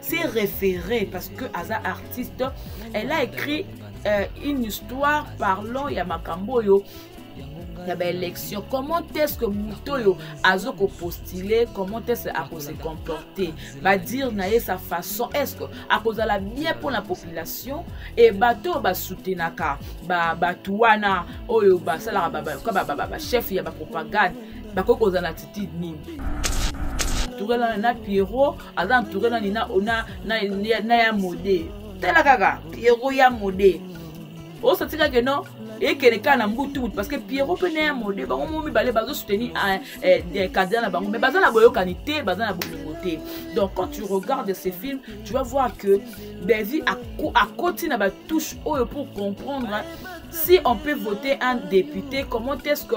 se référer parce que aza artiste elle a écrit euh, une histoire parlant ya makambo oyo ya baélection comment est-ce que moto oyo azo kopostule comment est-ce akose comporter badire na ye sa façon est-ce que akozala bien mpo na population e bato oyo basoutenaka bato wana oyo basalaka bachef ya bapropagande bakoki kozala ti nini entouré na, na pierrot aza entouré nani na, na, na, na, na ya mode tala kaka pierrot ya mode osati kaka no ekende kaka na mbutu mutu parce que pierrot mpe na ya mode bango mo mibale bazo soutenir ah, eh, eh, candidat na bango mais baza na boyokani te baza na bolingo te donc quand tu regardes ces films tu vas voir que bellevie akoti na batouche oyo pour comprendre si on peut voter un député comment est-ce que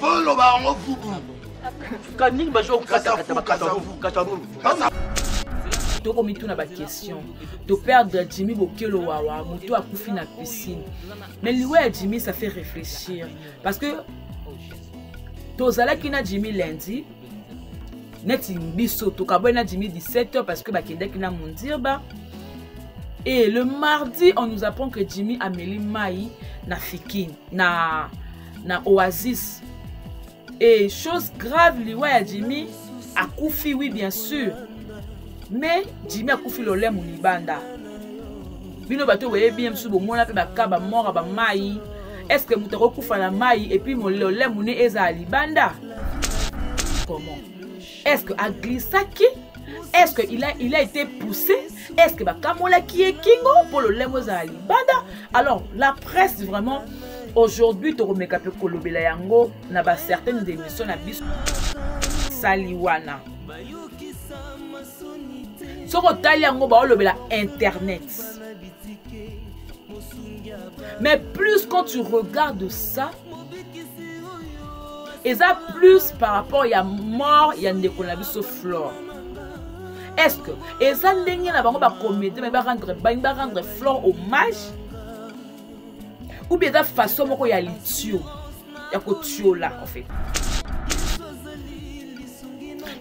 boloba yango fubu kaningi bazo katafukatabukatabukatabulu tokomituna baquestion toperdre jimi bokelo wawa motu akufi na piscine mais liwa ya jimi ça fait réfléchir parce que tozalaki na jimi lundi neti biso tokabwai na jimi 17 heures parce que bakendaki na mondirba et le mardi on nous apprend que jimi ameli mai na fikine na na oasis et chose grave liwa ya jimi akufi oui bien sûr mais jimi akufi lolemo libanda bino bato boyebi ye mosusu bomona mpe baka bamora bamai est ce que moto akokufa na mai epuis lolemo ne ezala libanda comment est ce que aglissaki est ce que il a, il a été poussé est ce que bakamolaki ye kingo mpo lolemo ezala libanda alors la presse vraiment aujourd'hui tokomeka mpe kolobela yango na bacertaines émission na biso sali wana soki otali yango baolobela internet mais plus quand tu regardes ça eza plus par rapport ya mort ya ndeko na biso flore est ce que eza ndenge na bango bakomete mai barendre bani barendre flore hommage ou bien eza façon moko ya litio ya kotiola en fait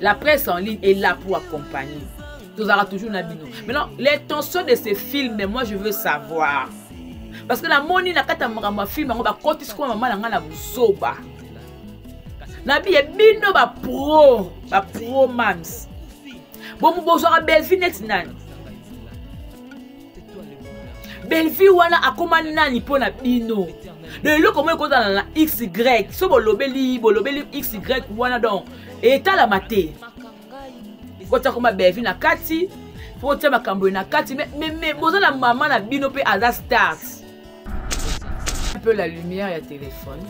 la presse en ligne est là pour accompagner tozalaka toujours na bino maintenant l'intention de ce film moi je veux savoir parce que namoni na kati ya makambo ya filme yango bakotisi kuna mama na ngai na buzoba na biye bino bapro bapro mams bomo bozwaka bellevue neti nani bellevue wana akoma nani mpo na bino na eloko moko ekozala na xy so bolobeli bolobeli xy wana donc etalama te otia koma bevi na kati mpo otia makambo ye na kati me boza na mama na bino mpe aza start un peu la lumière ya téléphone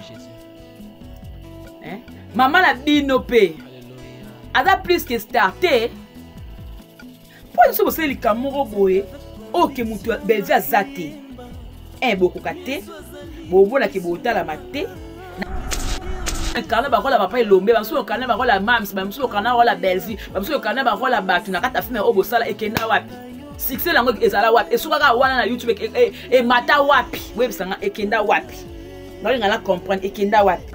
hein? mama na bino mpe aza plus que star te mpo na biso bosali likambo moko boye oyo ke moto ya belvi aza te e bokoka te bomonake botalama te kana bakola papa elombe bamosusu lokana bakola mams bamosusu lokana bakola bellevue bamosusu lokana bakola bato na kati ya filme oyo bosala ekenda wapi succès yango ezala wapi esukaka wana na youtube emata e, e, wapi boyebisanga ekenda wapi naolinga na comprendre ekenda wapi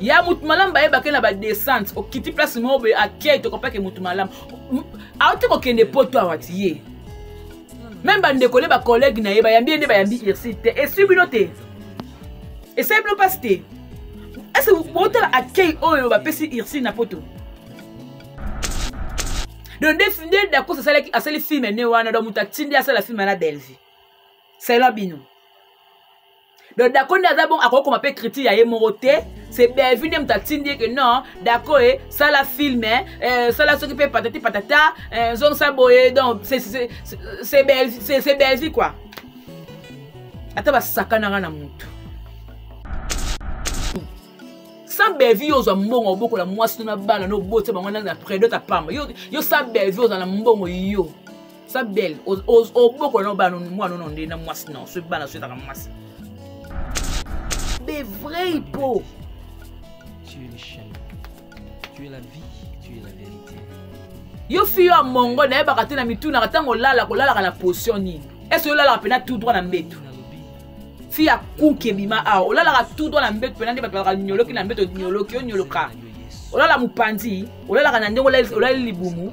ya motu malamu bayebake na badescente okiti place moko boye akei tokopake motu malamu auti kokende poto awa ti ye meme bandeko nde bacollègue na ye bayambi ye nde bayambi irsi te esui bino te esali bino mpasi te ese botala accueil oyo bapesi irsi na poto donc nde dakos asalaki asali filme ne wana donc moto atindi asala filme na bellevue selon bino donc dako nde aza bongo akoki koma mpe critique ya ye moko te se bellevue nde moto atindi ye ke non dako e sala film eh, sala soki mpe patati patata eh, zongisa boye donc se bellevue quoi ata basakanaka na motu sans bellevue yo ozwa mbongo obokola mwasi to na bana nobotisa bango na predote apamba yo sans bellevue ozala na mbongo yo sa belle obokola na bana mwana ono nde na mwasi na soki bana soyetaka mwasi be vrai po tu es le chemin tu es la vie tu es la vérité yo fi yo ya mongo nayebaka te na mitunaka ntango olala kolalaka na position nini ese olalaka mpena tout droit na mbetu fi ya kuki ebima awa olalaka tout droit na mbetu mpena nde bato balaka nyoloki na mbetu onyoloki onyoloka olala mopanzi olalaka na ndenge olali libumu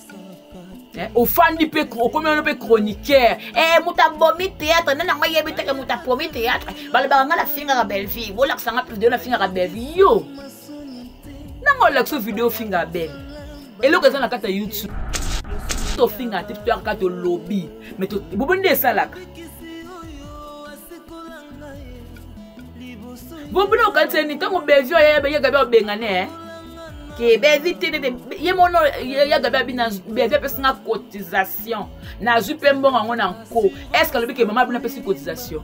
Eh, ofandi mpe okomi wana mpe chroniqueur eh, moto abomi théâtre nde nango ayebi teke moto apromi théâtre balobaka ngai nafingaka bellevie bolakisa ngai video nafingaka bellevie yo nanga olakisa video ofingaka belle eloko eza na kati ya youtube tofingaka te toyaka kaka tolobi me bobo nde esalaka bobina okanisa nini ntango bellevie ayaka bia obengane eh? ke bevi te nete ye mono ya gabi abi na bevi apesi nga cotisation nazwi mpe mbongo yango na nko est ce que alobi ke mama abino apesi cotisation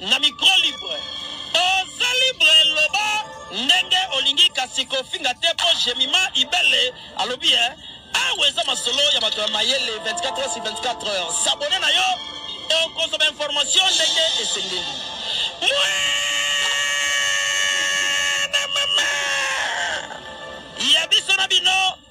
Na micro libre. Oza libre loba ndenge olingi kasi kofinga te po Jemima Ibele alobi eh awa eza masolo ya bato ya mayele 24 heures sur 24 heures sabone na yo okozwa bainformation ndenge esengeli mwana mama ya biso na bino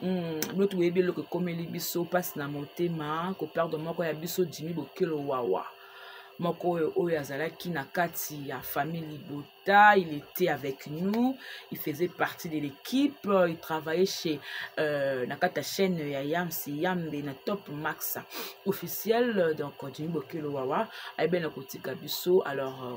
Hmm, bino toyebi eloko ekomeli biso mpasi na motema koperdre moko ya biso jimi bokelo wawa moko oyo oyo azalaki na kati ya famille libota il était avec nous il faisait partie de l'équipe il travaillait chez euh, na kati ya chaîne ya yams yambe na top max officiel donc jimi bokelo wawa ayebeli na kotika biso alors euh,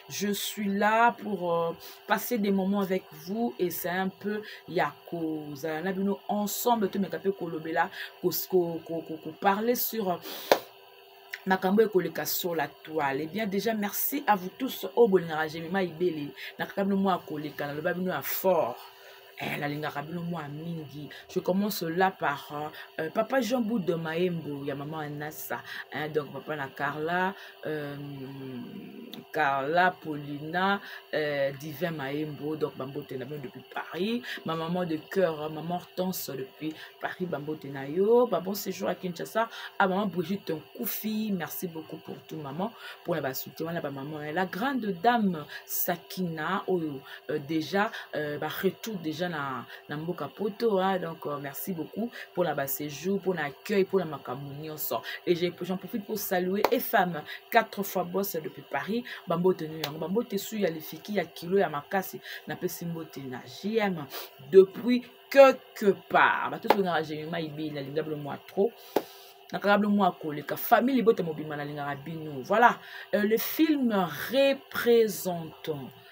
je suis là pour euh, passer des moments avec vous et c'est un peu ya kozala na bino ensemble tomeka mpe kolobela koparler sur euh, makambo ekoleka sur la toile ebien eh déjà merci à vous tous oyo oh, bolingaka jemima ibele nakaka bino mwa koleka naloba bino ya fort eh, nalingaka bino mwa mingi je commence là par euh, euh papa jean bout de maembo ya mama anasa hein, donc papa na carla euh, carla paulina euh, divin maembo donc bambote na bino depuis paris ma maman de cœur hein, maman hortense depuis paris bambote na yo babon séjour à kinshasa a ah, maman brigitte nkufi merci beaucoup pour tout maman mpona basoutien wana bamaman la grande dame sakina oyo euh, déjà euh, ba retour déjà na, na mboka poto hein, donc euh, merci beaucoup pour la bas séjour pour l'accueil pour la makambo nyonso et j'en profite pour saluer efam quatre fois boss depuis paris bambote nu yango bambote su ya lifiki ya kilo ya makasi napesi mbote na jm depuis quelque part bato tolingaka gemima ibi nalinga bino mwa trop nakaka bino mwa koleka famille libota mobimba nalingaka bino voilà euh, le film représentant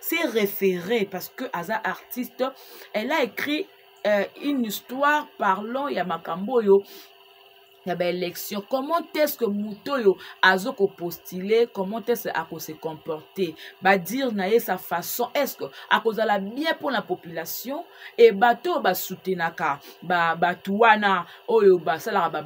s'est référé parce que aza artiste elle a écrit euh, une histoire parlant ya makambo oyo ya baélection comment est-ce que moto oyo azo kopostule comment est-ce akose comporte badire na ye sa façon est-ce que akozala bien mpo na population e bato oyo basoutenaka bato wana oyo basalaka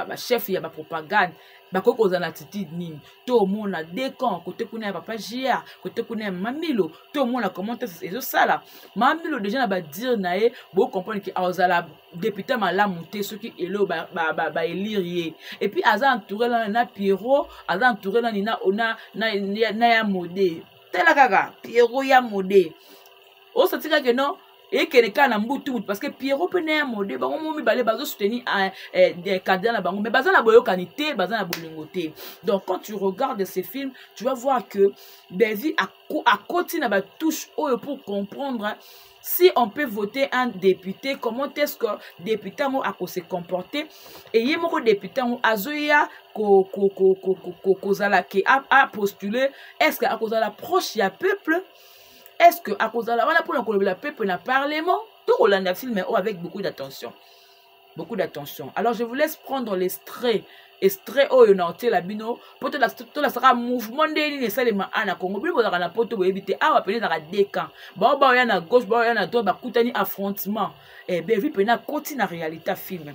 bachef ya bapropagande bakoki kozala na attitude nini to omona de camp kote kuna ya papa jr kote kuna ya mamilo to omona comment ezosala mamilo deja na badire na ye bocomprendre ke azala depute malamu te soki elo baelire ye epuis aza entouré lana na pierrot aza entouré lani na, na, na, na, na ya mode tala kaka pierrot ya mode osatikake no ekende kaka na mbutu mutu parce que pierrot mpe na ya mode bango mo mibale bazo soutenir ah, eh, eh, candidat na bango mais baza na boyokani te baza na bolingo te donc quand tu regardes ces films tu vas voir que bellevue akoti na batouche oyo pour comprendre si on peut voter un député comment est-ce que député yango akose comporter eye moko député yango azoya kozala ke apostule est-ce que akozala proche ya peuple est ce que akozala wana mpona kolobela peuple na parlement tokolanda filme oyo avec beaucoup d'attention beaucoup d'attention alors je vous laisse prendre l'estrait estrait oyo na otiela bino mpo tolasaka mouvement ndenge nini esalema a na congo bino bozalaka na poto boyebi te awa mpena ezalaka deux camp bao baoya na gauche baoya na droite bakutani affrontement eh, bevi mpena akoti na réalité ya filme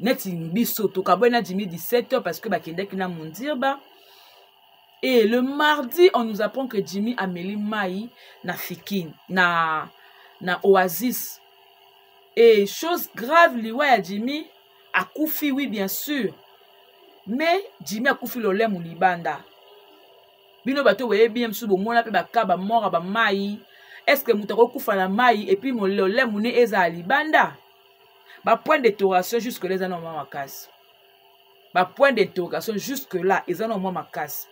neti biso tokabwani na jimi 17 heures parce que bakendaki na mondirba et le mardi on nous apprend que jimi ameli mai na fikin na na oasis et chose grave liwa ya jimi akufi oui bien sûr mais jimi akufi lolemu libanda bino bato boyebi ye mosusu bomona mpe baka bamora bamai estce moto akokufa na mai epuis lolemu ne ezala libanda bapoint d'interrogation jusque là eza na mwa makasi bapoint d'interrogation jusque là eza na mwa makasi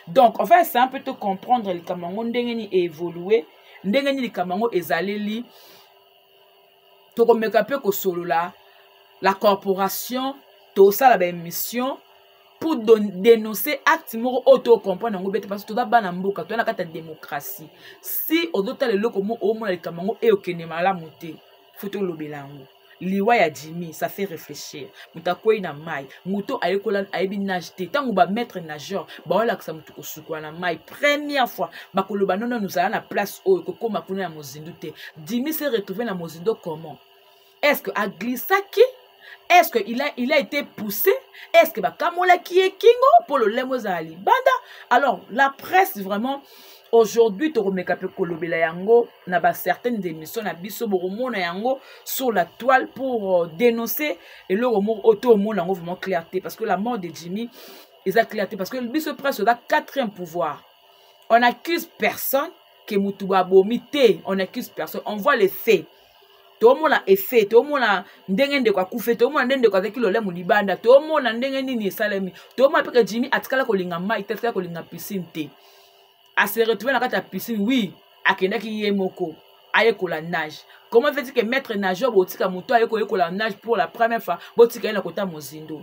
donc enfin ese mpe to comprendre likambo yango ndenge nini eévolue ndenge nini likambo yango ezaleli tokomeka mpe kosolola la corporation tosala baémission pour dénoncer acte moko oyo tocomprendre yango bete parce toza bana mboka toza na kati ya démocratie si ozotala eloko moko omona likambo yango eyokende malamu te fo tolobela yango liwa ya jimi ça fait réfléchir moto akwei na mai moto ayekola ayebi nage te ntango bamaître nageur baolakisa moto kosukola na mai première fois bakoloba nono nozala na place oyo kokóma kuna ya mozindo te jimi se retrouve na mozindo comment est ce que aglisaki est-ce que il a, il a été poussé est-ce que bakamolaki ye kingo mpo lolemo ezala libanda alors la presse vraiment aujourd'hui tokomeka mpe kolobela yango na bacertaines émissions na biso bokomona yango sur la toile pour euh, dénoncer eloko moko oyo toomona yango vraiment clair te parce que la mort de jimmy eza clair te parce que biso presse oza quatrième pouvoir on accuse personne ke motu babomi te on accuse personne on voit les faits toomona efe toomona ndenge ndeko akufe toomona nde ndeko azalaki lolemo libanda toomona ndenge nini esalemi toomona mpe ke jimi atikala kolinga mai te atikala kolinga piscine te ase retrouve na kati ya piscine wi akendaki ye moko ayekola nage comment fait ke maître nageur botika moto aye koyekola nage pour la première fois botika ye na kota mozindo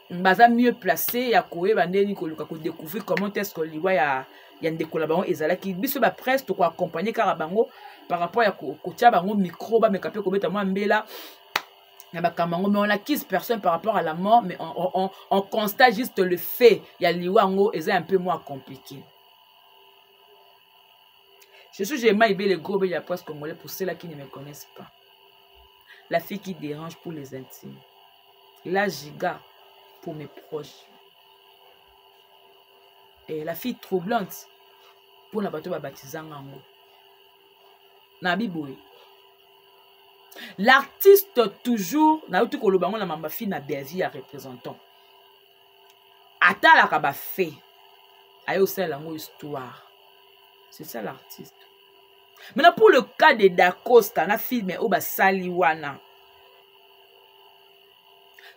baza mieux place ya koyeba ndeni koluka kodécouvrir comment est ce que liwa ya, ya ndeko na bango ezalaki biso bapresse tokoaccompagne kaka bango par rapport ya kotya bango micro bameka mpe kobeta mwa mbela na makambo yango mais on accuse personne par rapport à la mort mais on, on, on, on constate juste le fait ya liwa yango eza un peu moins compliqué je suis jema ibele gobe ya presse congolais pour cela qui ne me connaissent pas la fille qui dérange pour les intimes la giga pour mes proches eh, la fille troublante mpo na bato babatizanga yango na biboye l'artiste toujours nauti koloba yango na mamba fille na bellevie ya représentant atalaka bafait aye osalela yango histoire c'est ça l'artiste maintenant pour le cas de dacosta na filme oyo basali wana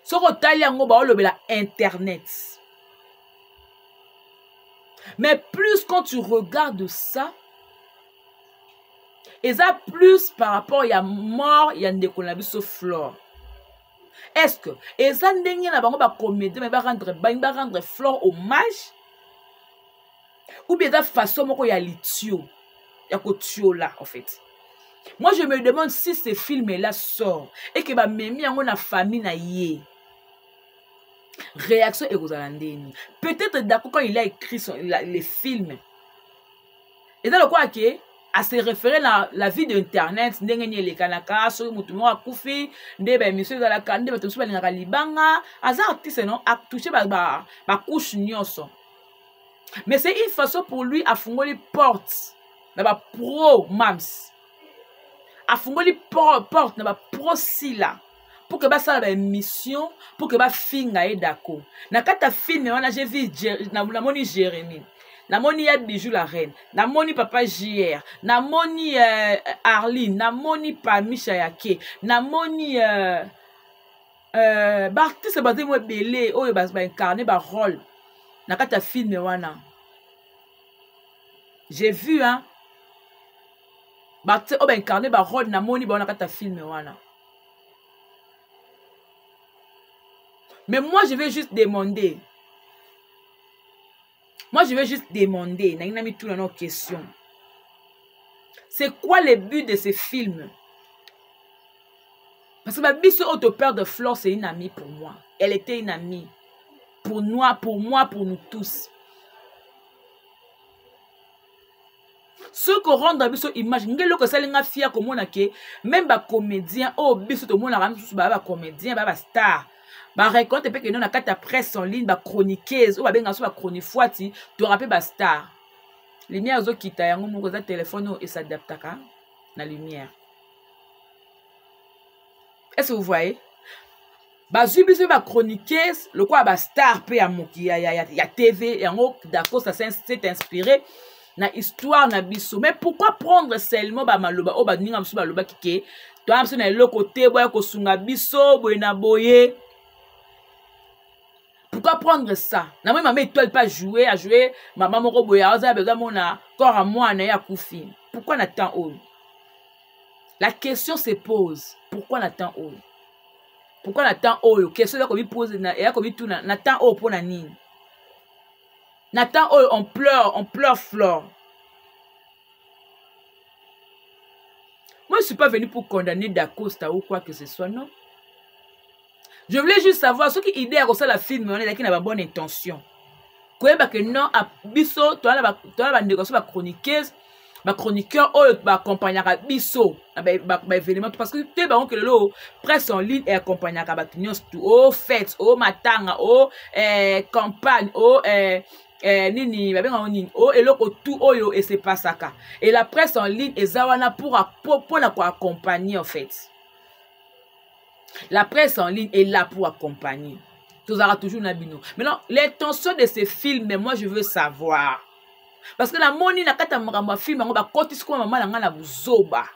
soki otali yango baolobela internet mais plus quand tu regardes ça eza plus par rapport ya mort ya ndeko na biso flore est ce que eza ndenge na bango bacomédien mai barendre balingi barendre flore hommage ou bien eza façon moko ya litio ya kotiola en fait moi je me demande si ce film là sort et que bamemi yango na famille na ye réaction ekozala ndeni peut-être dako quand il a écrit son, la, les films eza lokola ke à se référer na la vie d'internet ndenge nini elekanaka soki motu moko akufi nde baémission ezalaka nde bato mosusu balingaka libanga aza artiste non atouche bacouche ba, ba nyonso mais c'est une façon pour lui afungoli porte na bapro mams afungoli porte na bapro sila pour que basala baémission pour que bafinga ye dako na kati ya filme wana je vu namoni jérémie namoni ya bijou la reine namoni papa jr namoni euh, arline namoni pamisha yake namoni euh, euh, baartiste bazali mo ebele oyo baincarne ba role na kati ya filme wana j'ai vu hein baartiste oyo baincarne ba role namoni bango na kati ya filme wana mais moi je vais juste demander moi je vais juste demander nangi na mituna nao question c'est quoi le but de ce film parce que babiso oyo toperdre flore c'est une amie pour moi elle était une amie pour moi pour moi pour nous tous soki korendre biso image nge eloko esali nga fia komona ke meme bacomédien oyo oh, biso tomonaka misusu baya bacomédien baya bastar bareconte mpe kende na kati ya presse en ligne bachroniqueuse oyo oh, babengaka so bachronifuati toyaka mpe bastar lumière ezokita yango moko eza telefone oyo oh, esadaptaka na lumière est ce que vous voyez bazwi biso ba chroniqueuse lokola ba star mpe ya moki ya, ya, ya, ya tv yango dacosta s'est inspiré na histoire na biso mais pourquoi prendre seulement bamaloba oyo baninga mosusu balobaki ke toya biso na eloko te boya kosunga biso boye na boye pourquoi prendre ça na moi mama étoile pas jouer à jouer mama moko boye aza besoin mona corps à moi na ya kufi pourquoi na temps oyo la question se pose pourquoi na temps oyo pourkui na temps oyo question ya komipose ya komituna na temps oyo mpo na nini na temps oyo on pleure on pleure flore moi je suis pas venu pour condamner dacosta ou quoi que ce soit non je voulais juste savoir soki idée ya kosala film wana ezalaki na babonne intention koyeba ke non biso toza na bandeko biso bachroniqueuse bachroniqueur oyo baakompagnaka biso na baévénement to parce que te bango ke lelo presse en ligne eakompagnaka bato nyonso tu o fete o matanga o eh, campagne o eh, eh, nini babenga yango nini o eloko tu oyo esepasaka et la presse en ligne eza wana mpo na koaccompagne en fait la presse en ligne est là pour accompagner tozalaka toujours na bino maintenant l'intention de ce film moi je veux savoir parce que namoni na kati ya makambo ya filme yango bakotisi kuna mama na ngai na buzoba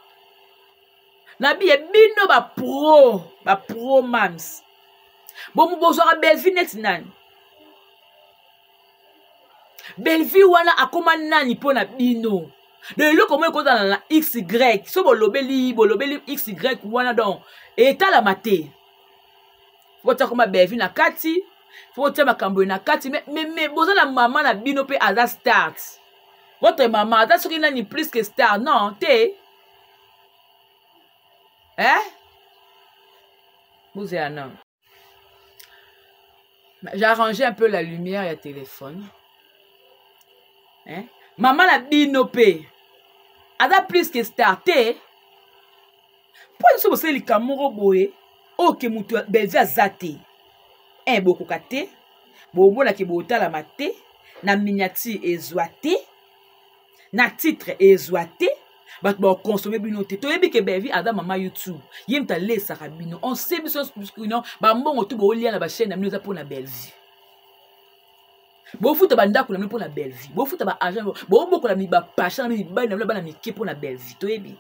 nabiye bino bapro bapro mams bomu bozwaka belvi neti nani bellevue wana akoma nani mpo na bino donc eloko moko ekozala na xy so bolobeli bolobeli xy wana donc etalama te botia koma bellevue na kati fo botia makambo ye na kati me, me, me boza na mama na bino mpe aza start votre mama aza soki nani plus que star non te eh bozela nano j'arrange un peu la lumière ya téléphone hein? mama na bino mpe aza plus que star te mpo nyonso bosali likambo moko boye oyo ke moto belvi aza te e bokoka te bomonake botalama te na miniature ezwa te na titre ezwa te bato bakonsome bino te toyebi ke bevi aza mama youtube ye moto alesaka bino on se biso bino bambongo tu boolia na bachaine na bino eza mpo na bellevue bofuta bandako na bino mpo na bellevue bofuta baagent bobokola bapasha na bino mibali na bino bana mike mpo na bellevue toyebi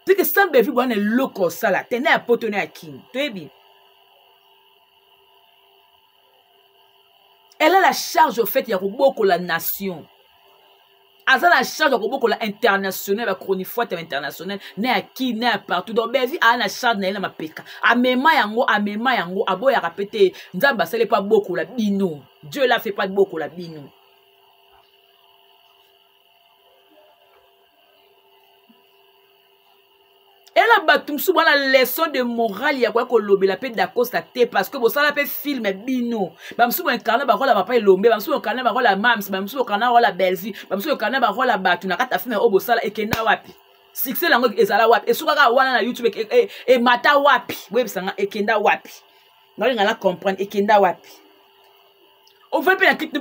teke sans bellevue boya na eloko osala te na ya poto na ya king toyebi elle a la charge au fait ya kobokola nation aza na charge ya kobokola international bachronifuate ya international na ya ki na ya partout donc bevi aa na charge na ye na mapeka amema yango amema yango aboyaka mpe te nzambe asali mpe abokola bino dieu la fait mpe abokola bino ela bato mosusu bwana leçon de morale ya koya kolobela mpe dacosta te parce que bosala mpe filme bino bamosusu boincarne bakola papa elombe bamosusu boincarne bakola mams bamosusu boincarne bakola bellevue bamosusu boincarne bakola bato na kati ya filme oyo bosala ekenda wapi succès yango ezala wapi esukaka wana na youtube e, e, emata wapi boyebisanga ekenda wapi nalinga na comprendre ekenda wapi ovai mpe na kiti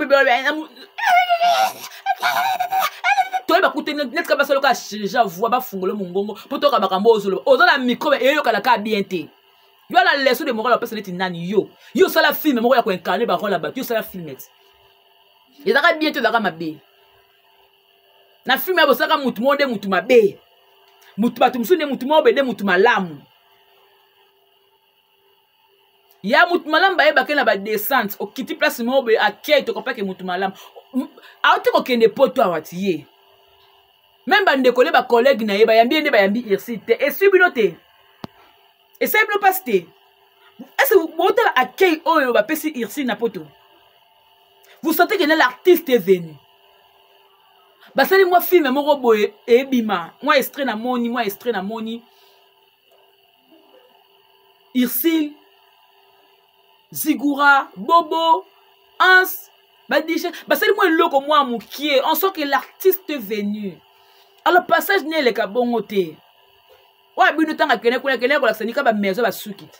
toyeba kute netika basala kaka change voi bafungole mongongo mpo toyoka makambo ozoloba oza na micro eyokana kaka bien te yo ala leso de morale opesa neti nani yo yo osala filme moko ya koincarne barole ya bato yo osala filme ti ezaka bien te ezaka mabe na filme ya bosalaka motu moko nde motu mabe motu bato mosusu nde motu moko bende motu malamu ya motu malamu bayebake na badescente okiti place moko boye akei tokopake motu malamu auti kokende poto awa ti ye meme bandeko nde bacollege na ye bayambi ye nde bayambi irsi te esui bino te esali bino mpasi te ese botala akei oyo bapesi irsi na poto vous sentez que l'artiste est venu basali mwa filme moko boye ebima mwa estre na moni mwa estre na moni ursile zigura bobo ans badije basali mwa eloko mwa mokie en soi que l'artiste venu alors passage ne eleka bongo te oyo bino ntango akende kuna akende kolakisa nika bamaison basuki te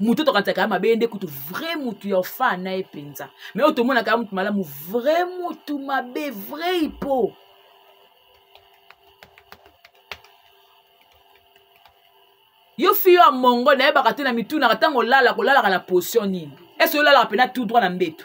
moto oyo tokanisaka ya mabe ye nde kutu vrai motu ya ofaa na ye mpenza mai oyo tomonaka ya motu malamu vrai motu mabe vrai ipo yo fi yo ya mongo nayebaka te na mitunaka ntango olalaka olalaka na potion nini ese olalaka mpena tout droit na mbeto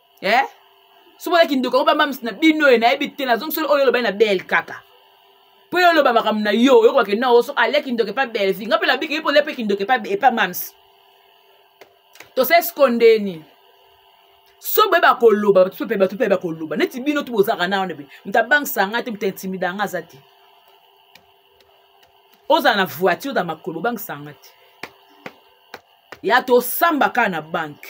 eh? somola kindoko yango bamamisi na bino oyo nayebi te nazongi solo oyo olobani na bel kaka mpo yo oloba makambo na yo oyokobake nao so ale kindoka epa belvi nga mpe nabiki ye mpo olia mpe kindoka epa epa mams tosali siko ndeni so boye bakoloba bato mpe bato mpe bakoloba neti bino tu bozalaka na wana mpe moto abangisa nga te moto intimida yanga aza te ozala na voiture na makolo obangisa yanga te ya tosamba kaka na banke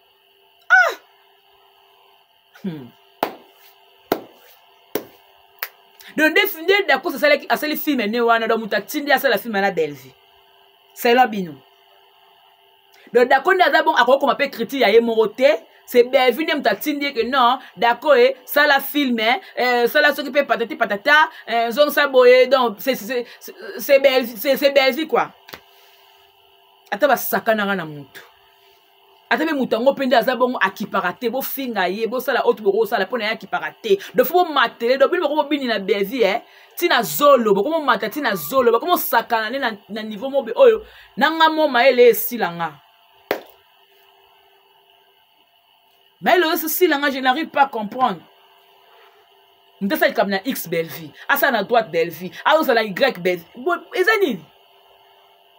ah! hmm. donc nde dakos asalaki asali filme ne wana donc moto atindi asala filme na bellevue selon bino donc dako nde aza bon akoki koma mpe critique ya ye moko te se bellevue nde moto atindi eke non dako e sala filme eh, sala soki mpe patati patata eh, zongisa boye donc se bellevue kua ata basakanaka na motu ata mpe moto yango mpe nde aza bongo akipaka te bofinga ye bosala oyo toboko kosala mpo na ye akipaka te dofo bomatele do bino boko bobini na bevi e ntina zolo boko bomata ntina zolo boko mosakana nde na niveau mobe oyo na nga mo mayele esila nga mayele oyo esila nga je n'arrive pas comprendre moto asala likambo na x bellevie asala na droite bellevie azosala na y bellevie eza nini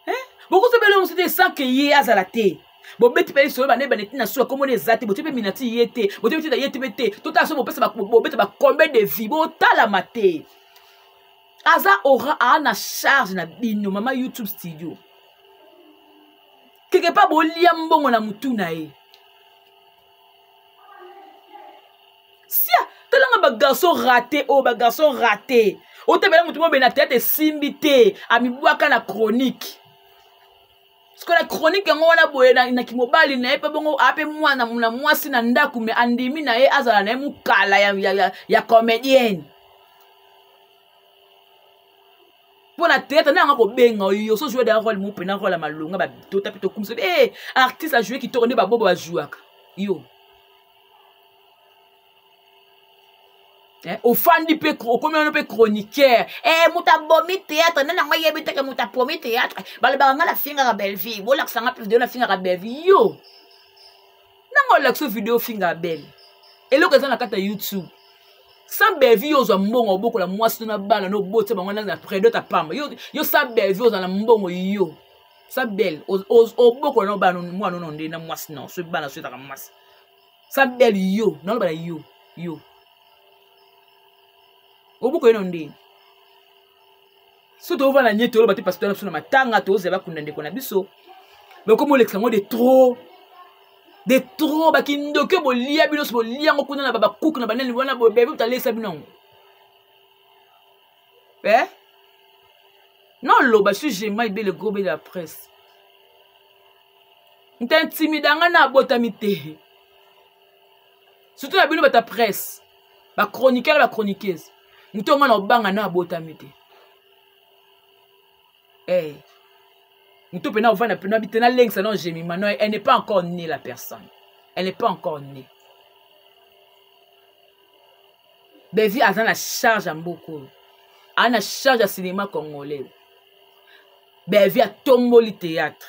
eh? bokosabela yo mosu te sans ke ye azala te bobeti mpe lisolo bana ebana etina suka komona eza te botie mpe minati ye te botie mpe ye te mpe te totala so bopesa bobeta bacombien de vie botalama te aza ora aa na charge na bino mama youtube studio quelque part bolia mbongo na motu na ye sia talanga bagarçon rate oyo oh, bagarçon rate otabela moto mobele na teyate esimbi te amibwaka na chronique sikoyo na chronique yango wana boye na, na kimobali na ye mpe bongo ape mwana na mwasi na ndako me andimi na ye azala na ye mokala ya, ya, ya, ya comédienne mpo na théâtre nde yanga kobenga oyo so joue daya role mope na role ya malonga batota mpe tokumisa e eh, artiste ajoue kitoko nde babobo bajouaka yo Eh, ofandi mpe okomi wano mpe chroniqueur eh, moto abomi théâtre nde nango ayebi teke moto apomi théâtre balobaka ngai nafingaka bellevie bolakisa ngai mpe video nafingaka bellevie yo nanga olakisa video ofinga abel eloko eza na kati ya youtube sans bellevue yo ozwa mbongo obokola mwasi to na bana no obotisa bango na predot apamba yo, yo sans bellevue ozwa na mbongo yo sa belle obokola na bana mwana ono nde na mwasi na so bana so ezaka mwasi sa belle yo naloba na yo yo obokola no ndenge so toova na nie toloba te pasteur na biso na matanga tozela bakunda ndeko na biso bakomi olekisa yango de trop de trop bakindoki oyo bolia bino so bolia yango kuna na babakuku na banani wana bebe botalesa bino yango eh? noloba su gemai be le gros be de la presse ntantimida ngai nabotami te surtout na bino bata presse bachroniqueur na bachroniqueuse moto yango na obanga na abotami te hey. Eh. moto mpena ovanda mpena bite nalengisa na gemima no elle n'est pas encore née la personne elle n'est pas encore née bevi aza na charge ya mboka oyo aza na charge ya cinéma congolais bevi atomboli théâtre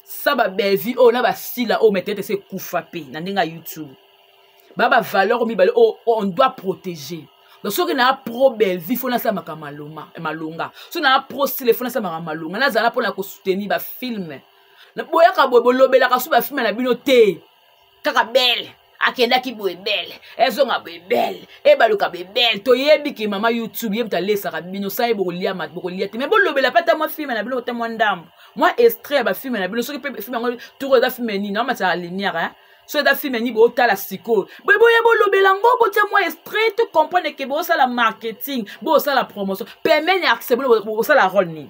sa ba bellevue oyo na basila oyo metete se ekufa mpe na ndenge ya youtube ba ba valeur mibale oyo on doit protéger donc soki naa pro bellevue fo nasalamaka eh, malonga soki naa pro sile fo nasalamaka malonga nazala mpo na kosoutenir bafilme boyaka boye bolobelaka so bafilme na bino te kaka bele akendaki boye bele ezonga boye bele ebaluka boye bele toyebi ke mama youtube ye moto alesaka bino sa ye bokolia mat bokolia te mai bolobela mpe ata mwa filme na bino ata mwa ndambo mwa extrait ya bafilme na bino soki mpe filme yango toko eza filme nini amataka lumière so eza filme nini botala sikoyo boye boye bolobela yango botia mwa extrait to comprendre ke bosala marketing bosala promotion pemene artiste bino bosala role nini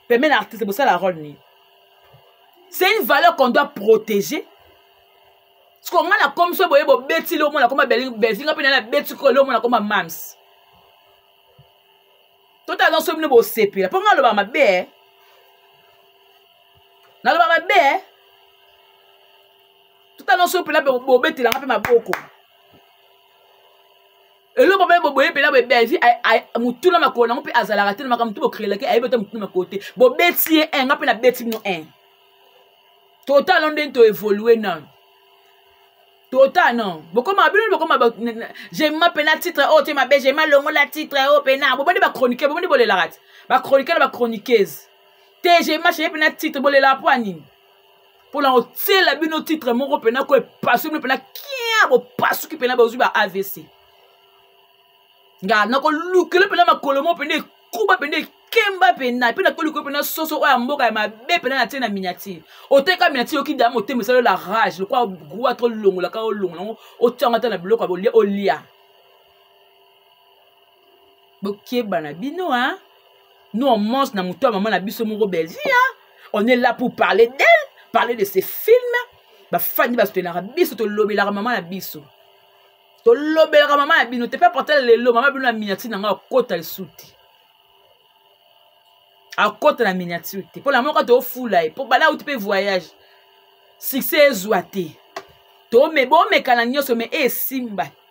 pemene artiste bosala role nini c'est une valeur qu'on doit protéger siko ngai na komi so boye bobeti le omona koma belzinga mpe nana beti ko le omona koma mams totala nyonso bino bosepela mpo ngai alobaka mabe eh. naloba mabe eh. totala nyonso mpela bobetelanga mpe maboko eloko mpe boboye mpena boye belvi motuna makolo nango mpe azalaka te na makambo tu bocrelaki ayebi ata motuna makolo te bobeti ye un nga mpe nabeti bino un totala ndenge toevolue nano tota non bokoma bino bokoma jema mpena titre oyo oh, te mabe jema longola titre oyo oh, mpena bobandi bachroniqueur bobandi bolelaka te bachroniqueur na bachroniqueuse te jema cheye mpena titre bolelaka mpo ya nini mpo na kotiela bino titre moko mpena ko epasui bino mpena kia bopasuki mpena bozwi ba avc nga nakolukela mpena makolo moko mpena ekuba mpena ekemba mpena mpe nakolukela mpena soso oyo ya mboka ya mabe mpena na tie na miniatire oteka miniatire yoki da motema esali la rage lokola gua to olongolaka olongola yango otyanga ata na biloko ya olia bokeba na bino hein? nous on mange na moto ya mama na biso moko bellevie hein? on est là pour parler d'elle parler de ses films bafandi basotenaka biso tolobelaka mama na biso tolobelaka mama ya bino te mpe apatala lelo mama bino na miniature na ngai akota lisusu te akota na miniature te mpo na moko toofula ye mpo bala auti mpe voyage succès ezwa te bomekana nyonso me esimba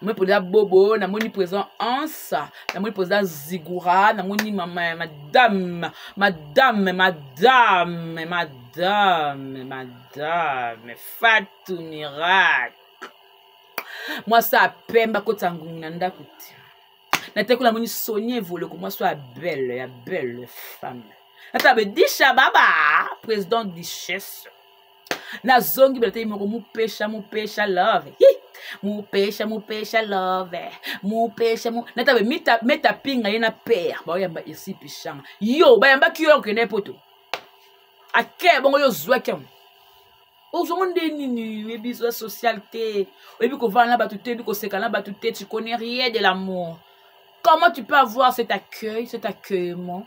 namoni mpoza bobo namoni mpoza ansa namoni mpoza zigura namoni mama madame madame madame madame madame fatu miracle mwasi apemba kotisa ngungu na ndako te natekola moni sonie evoloko mwasi oyo ya belle ya belle femme ata be disha baba président duchesse nazongi belatei moko mupesha mupesha love Hi! mupesha mupesha love mupesha mu... natabe mita, meta pinga ye na pere baoyamba esi pishanga yo bayambaki yo okende ye poto ake bongo yo ozwaki yango ozwango nde nini oyebi zwa social te oyebi kovanda na bato te oyebi koseka na bato te tu connais rien de l'amour comment tu peux avoir cet accueil cet accueillement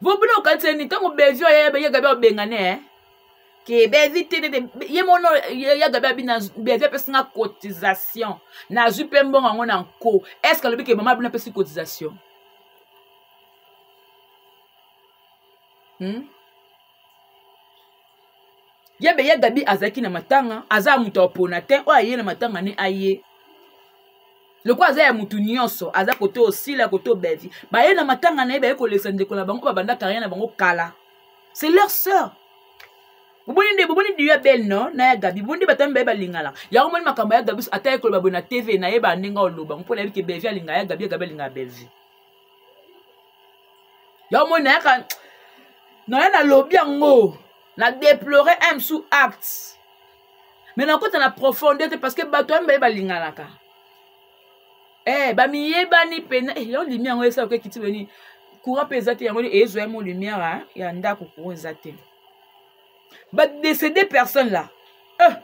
vobino okaniseni ntango bevi oyo ye gabi abengane eh? ke bevi te te ye mono ya gabi abi na bevi apesi nga cotisation nazwi mpe mbongo yango na nko est ce que alobi ke mama bino apesi cotisation hmm? ye be ye gabi azalaki na matanga aza moto apona te oyo aye na matanga ne aye lokola aza ya motu nyonso aza kote osila kote obevi baye na matanga na ye baye kolekisa ndeko na bango babanda carrière na bango kala c'est leur sœur boboni nde boboni diyo ya belle no na ya gabi boboni nde batami baye balingana yango moni makambo ya gabi ata ye koloba boye na tv na ye bandenge oloba mpo nayebi ke belvie alinga ya gabi ya gabi alinga ya belvie yango moni nayaka naya nalobi yango na deplore un sous acte me nakota na profondeur te parce que bato ya mibale balinganaka eh, bamiyebani mpena eh, yango limi yango esala oke kiti boni courant mpe eza te yango ezwa ye mo lumière ya ndako courant eza te badécédé personne là eh.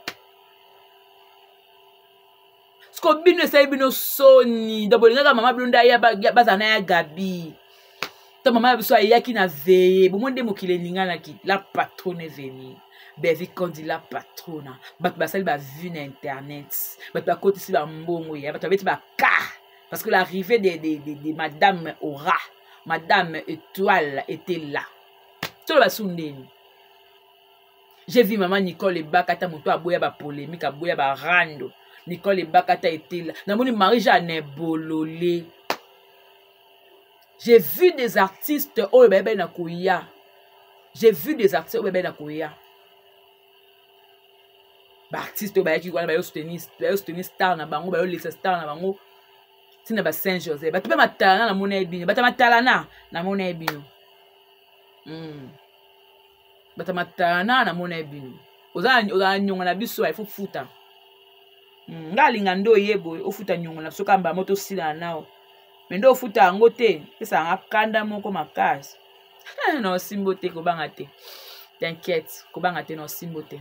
siko bino esali bino soni donc bolingaka mama bino nde aya bazala na ya gabi to mama ya biso ayaki na veye bomoi nde mokili eninganaki la patrone venir bevi kondi la patrona bato basali bavue na internet bato bakotisi bambongo ya bato babeti baka parce que l'arrivée de, de, de, de madame aura madame étoile était là toloba su ndeni j'ai vu mama nicole ebakata moto aboya bapolémike aboya barando nicole ebakata etela namoni marie jeanne bolole j'ai vu des artistes oyo bayebani na koya j'ai vu des artistes oyo bayebani na koya baartiste oyo bayaki wana bayo soutenir star na bango bayo lesa star na bango ntina ba saint joseph bato mpe matalana namona ye bino bata matalana namona ye bino mm. bata matana namona ye bino ozala nyongo na biso il faut futa mm. nga alinga nde oye boye ofuta nyongo na biso kamba mo tosilana nao me nde ofuta yango te pesa yanga kanda moko makasi na osimbo te kobanga te t'inquiète kobanga te na osimbo te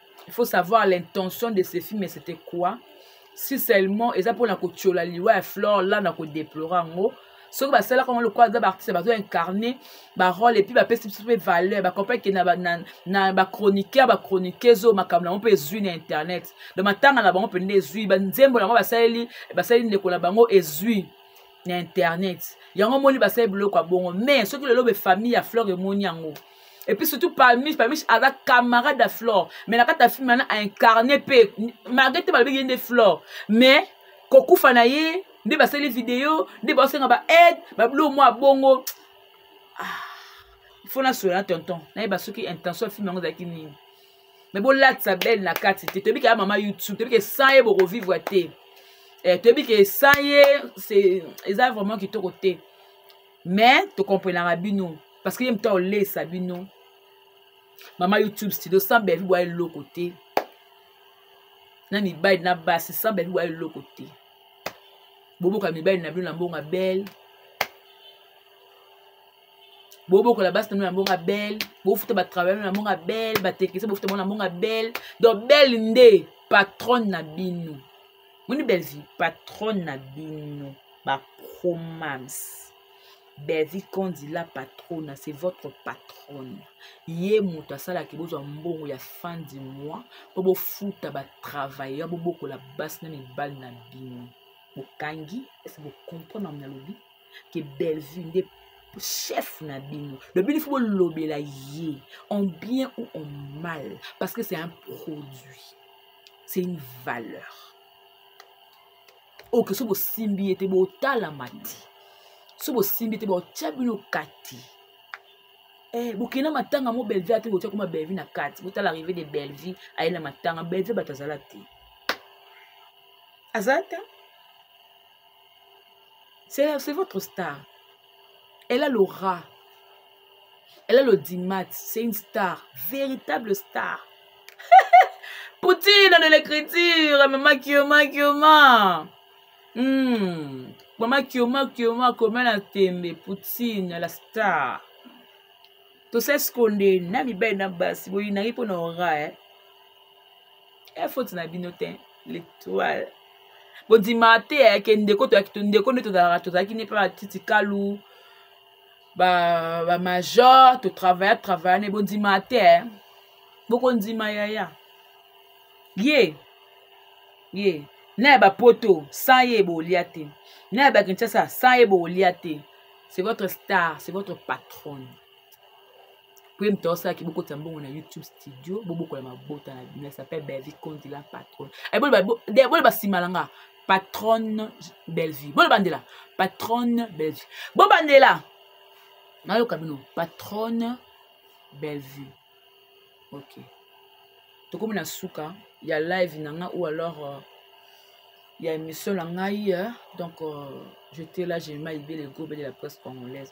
il faut savoir l'intention de ce film c'était quoi si seulement eza mpona kotyola liwa ya flore la na kodeplore yango soki basalaka yango lokola aza baartiste bazo incarne barole epuis bapesi biso mpe valeur bacompreke na, na, na bachroniqueur bachroniqueuse oyo makambo na bango mpe ezwi na internet don matanga na bango mpenza ezwi banzembo na yango basaleli basaleli ndeko na bango ezwi na internet yango omoni basali biloko ya bongo mais soki lelo be famille ya flore emoni yango et puis surtout palmiche palmiche aza camarade ya flore mais na kati ya filme wana aincarne mpe malgré te balobi ye nde flore mais kokufa na ye nde basali video nde baosenga ba aide babilo mwa bongo ah, fo nasola na tonton nayeba soki intention ya filme yango ezalaki nini me bolatisa bele na kati te toyebi kaya mama youtube toyebi ke sans ye bokovivre te eh, toyebi ke sans ye eza vraiment kitoko te mais tokomprenaka bino parce que ye moto aolesa bino mama youtube studio sans bevi boya eloko te na mibali na basi sans bevi boya eloko te boboka mibali na bino na mbongo ya bele bobokola basi na bino na mbongo ya bele bofuta batravaille na mbongo ya bele bateknise bofuta bango na mbongo ya bele donc bele nde patronne na bino moni bellevue patronne na bino bapromams bellevue kondila patrona c'est votre patronne ye moto asalaki bozwa mbongo ya fin du mois mpo bofuta batravailleur bobokola basi na mibali na bino bokangi ese bokomprendre na lobi ke bellevue nde chef na bino lobi lifi bolobela ye en bien ou en mal parce que c'est un produit c'est une valeur oke so bosimbi ye te botalama te so bosimbi te botya bino kati Eh, bokei na matanga mo bellevie ate botya kuma bellevie na kati botala arrive de bellevie aye na matanga bellevie bato azala te azala te c'est votre star elle a l'aura Elle a l'audimat, c'est une star, véritable star. Poutine de l'écriture, maman Kioma Kioma. Hmm. Maman Kioma Kioma, comment la tembe, Poutine, la star. tosali sikonde na mibali na basi boyinaki mpo na ora e eh? efoti eh, na bino te l'étoile bondima te ayake eh, ndeko toyaki ndeko nde tozalaka tozalaki ne mpe batiti kalu ba, ba major totravaya travaya ne bondima te eh. bokondima yaya ye ye na ya bapoto sans ye bolia te na ya bakinshasa sans ye bolia te c'est votre star c'est votre patronne Puis moto asala ki bokota mbongo na YouTube studio bobokola mabota na bino s'appelle Bellevue Kondi la patronne. Eh bolo ba bolo ba simala nga patronne Bellevue. Bolo bandela patronne Bellevue. Bo bandela nayoka bino patronne Bellevue. OK. Tokomi na suka ya live na nga ou alors euh, ya émission na ngai euh, donc euh, j'étais là j'ai mal libé le groupe de la presse congolaise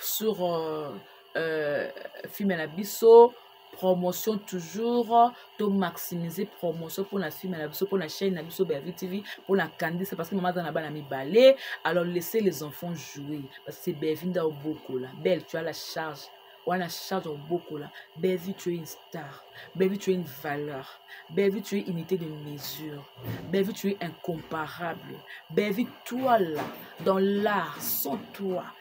sur euh, euh, filme na biso promotion toujours to maximiser promotion mpona film na biso mpona chaîne na biso bellevue tv mpona kandisa parce que mama aza na bana mibale alors laisser les enfants jouer parce que c'est bellevue nda obokola belle tu as la charge wana charge obokola bellevue tu es une star bellevue tu es une valeur bellevue tu es unité de mesure bellevue tu es incomparable bellevue toi là dans l'art sans toi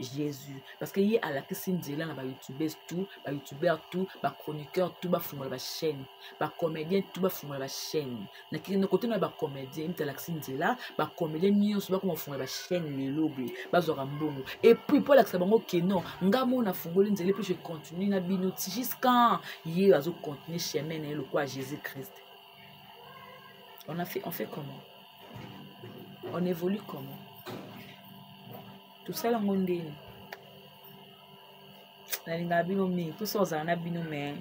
jesus parce que ye alakisi nzela na bayoutubes tout bayoutubeur tout bachroniqueur tout bafungola bachaîne bacomédien tout bafungola bachaîne na kote na bacomédien mite alakisi nzela bacomédien nyonso bakoma kofungola bachaîne lelo boye bazwaka mbongo epuis mpo alakisa bango ke non nga mo nafungoli nzela epuis je continue na bino ti jusqu'an ye azocontinue chemin na ye lokola jésus christ on a fait on fait comment on évolue comment tosala yango ndeni nalingaka bino mingi mposa ozala na bino mais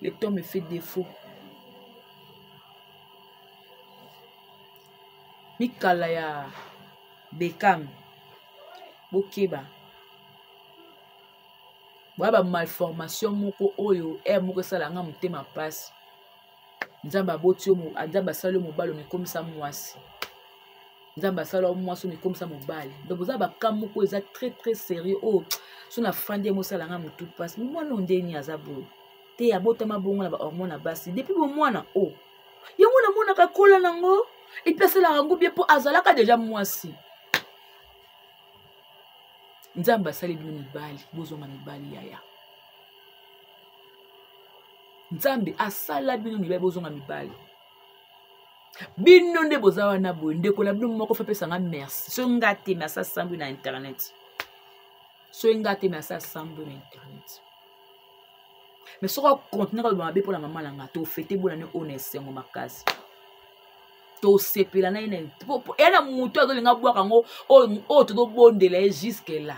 le temps me fait défaut mikala ya bekam bokeba boya bamalformation moko oyo ere moko esala nga motema mpasi nzambe aboti yo nzambe asali yo mobali omikomisa mwasi nzambe asala yo mwasi omikomisa mobali donc oza baka moko eza très très sérieux oyo oh, so na fandi ye mosala nga motu mpasi mwana oyo ndeni aza boye te abotama bongo na bahormone ya basi depuis bomwana o oh. yango namonaka kola nango epuis asalaka yango bie mpo azalaka deja mwasi nzambe asali bino mibali bozonga mibali yaya nzambe asala bino mibali bozonga mibali bino nde boza wana boye ndeko na bino moko fe apesanga merci soki nga te merci asambwi na internet soki nga te merci asambwi na internet mais soki akontinue koloba mabe mpo na mama na nga tofete bona ne oyo na esengo makasi tosepela na ye na eya na motu azolinga bwaka yango oyo tozobondela ye juske la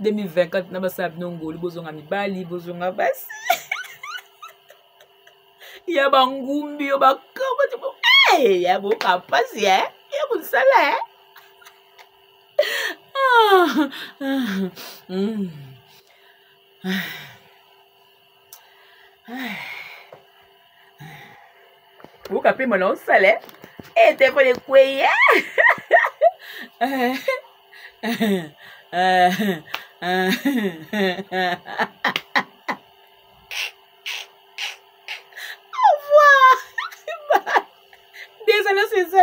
2024 na basala bino ngolu bozonga mibali bozonga basi ya bangumbi yo bakamati eh, ya boka mpasi e ya mosala e ah, ah, mm. ah. oyoka mpe mona osala e telefone ekwei Au revoir. Désolée, c'est ça.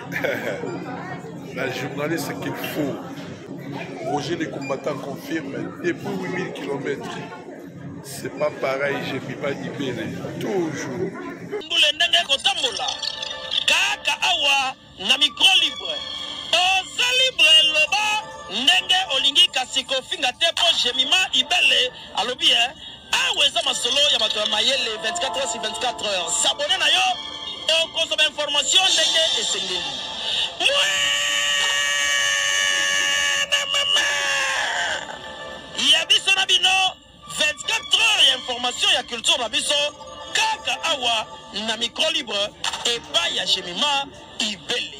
La journaliste qu'il faut. Roger les combattants confirme depuis 8000 km. C'est pas pareil, j'ai mis pas d'ibele. Toujours. Mbule ndenge kotambola. Kaka awa na micro libre. Oza libre loba ndenge olingi kasi kofinga te po jemima ibele alobi eh Awa eza masolo ya bato ya mayele 24 heures sur 24 heures. S'abonner na yo okozwa ba information ndenge esengeli. Ya biso na bino 24 heures ya information ya culture na biso kaka awa na micro libre epai ya Gemima Ibele.